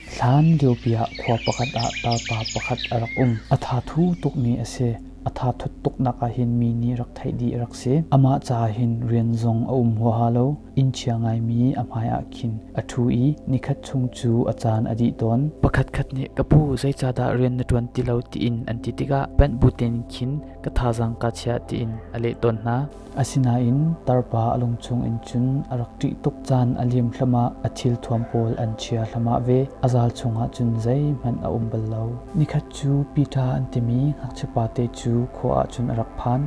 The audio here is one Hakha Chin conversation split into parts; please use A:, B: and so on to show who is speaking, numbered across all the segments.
A: Hlan liopi ah khua pakhat ah tarpa pakhat a rak um. A thathu tukmi a si. A thathut tuknak ah hin mi nih rak theih dih a rak si. Amah ca hin rian zong a um huaha lo. Inn chia ngaimi a hmaiah khin a thu i nikhat chung cu a caan a dih tawn. Pakhatkhat nih ka pu zeicahdah rian na tuan ti lo tiin an ti tikah panh butin khin ka thazang ka chiah tiin a leh tawn hna. Asinain tarpa a lung chungin cun a rak ṭih tuk caan a liam hlamah a thilthuam pawl an chia hlamah ve a zal chungah cun zeihmanh a um bal lo. Nikhat cu Peter an timi ngakchia pate cu khua ah cun a rak phan.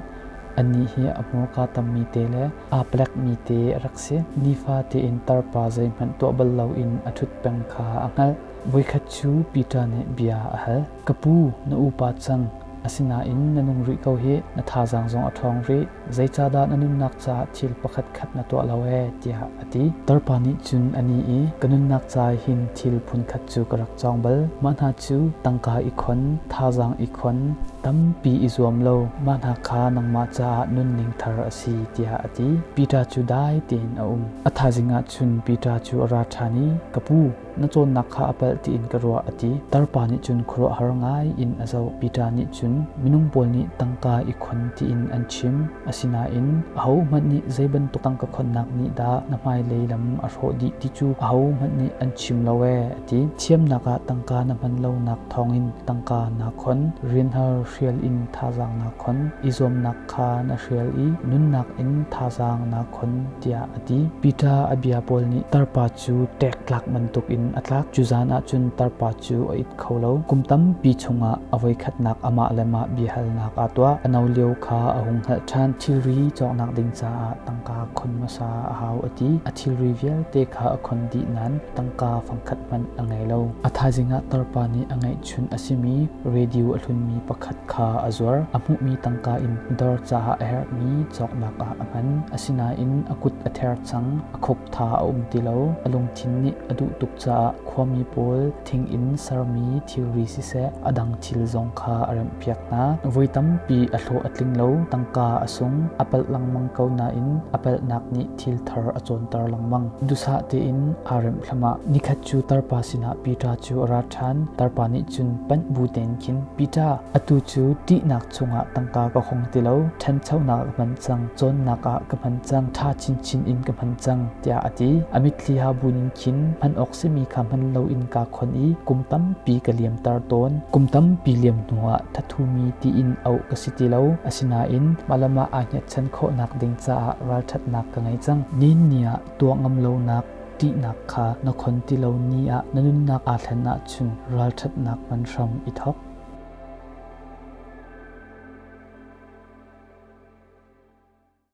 A: Annih hi a hmurka tammi te le aa plekmi te a rak si. Nifa tein tarpa zeihmanh tuah bal loin a ṭhut peng kha a hngalh. Voikhat cu Peter nih bia a hal. Ka pu, na upa cang, asinain na nung rih ko hi na thazaang zong a ṭhawng rih, zeicahdah na nunnak caah thil pakhatkhat na tuah lo ee tiah a ti. Tarpa nih cun a ni i ka nunnak ca hin thil phunkhat cu ka rak cawng bal. Mah hna cu tangka i khon, thazaang i khon, tampi i zuam lo, mah hna kha nangmah caah nunning thar a si tiah a ti. Peter cu dai tein a um. A thazing ah cun Peter cu a ra ṭhan i, Ka pu, na cawnnak kha a palh tiin ka ruah a ti. Tarpa nih cun khuaruahhar ngai in a zoh. Peter nih cun minung pawl nih tangka i khon tiin an chim. Asinain ahohmanh nih zei bantuk tangka khonnak nih dah na hmailei lam a hrawh dih ti cu ahohmanh nih an chim lo ee a ti. Thiamnak ah tangka na hman lonak thawngin tangka naa khon, rianhar hrial in thazaang naa khon, i zuamnak khaan a hrial i nunnak in thazaang na khon tiah a ti. Peter a bia pawl nih tarpa cu ṭek tlak bantuk in a tlak. Cu zan ah cun tarpa cu a it kho lo. Kum tampi chungah a voikhatnak amah le mah biahalnak aa tuah. A no lio kha a hung hngalh ṭhan. Thilri cawknak ding caah tangka khon hmasa a hau a ti. A thilri vialte kha a khon dih nain tangka fangkhat hmanh a ngei lo. A thaizing ah tarpa nih a ngeih Chun a simi radio a hlunmi pakhat kha a zuar. A hmuhmi tangka in dawr caah a herhmi cawknak ah a hman. Asinain a kut a ther cang, a khup tha a um ti lo. A lungthin nih a duh tuk caah khuami pawl thing in sermi thilri siseh a dang thil zong kha a remhpiak hna. Voi tampi a hlawh a tling lo, tangka a sung, a palh lengmang ko nain a palhnak nih thil thar a cawnter lengmang. Dusah tein aa remh thlamah nikhat cu tarpa sinah Peter cu a ra ṭhan. Tarpa nih cun panh bu tein khin Peter atu cu ṭihnak chungah tangka ka hong ti lo ṭhanchonak ka hman cang cawnnak ah ka hman cang ṭha chinchin in ka hman cang tiah a ti. A mitthli ha bu ning khin hman awk simi kha hman loin kaa khon i kum tampi ka liamter tawn. Kum tampi liam hnuah thathumi tiin auh ka si ti lo. Asinain malam ah aa hngatchan khawhnak ding caah ralṭhatnak ka ngei cang. Nin ni ah tuah ngam lonak ṭihnak kha na khon ti lo ni ah na nunnak aa thlen ahcun ralṭhatnak man hram i thawk.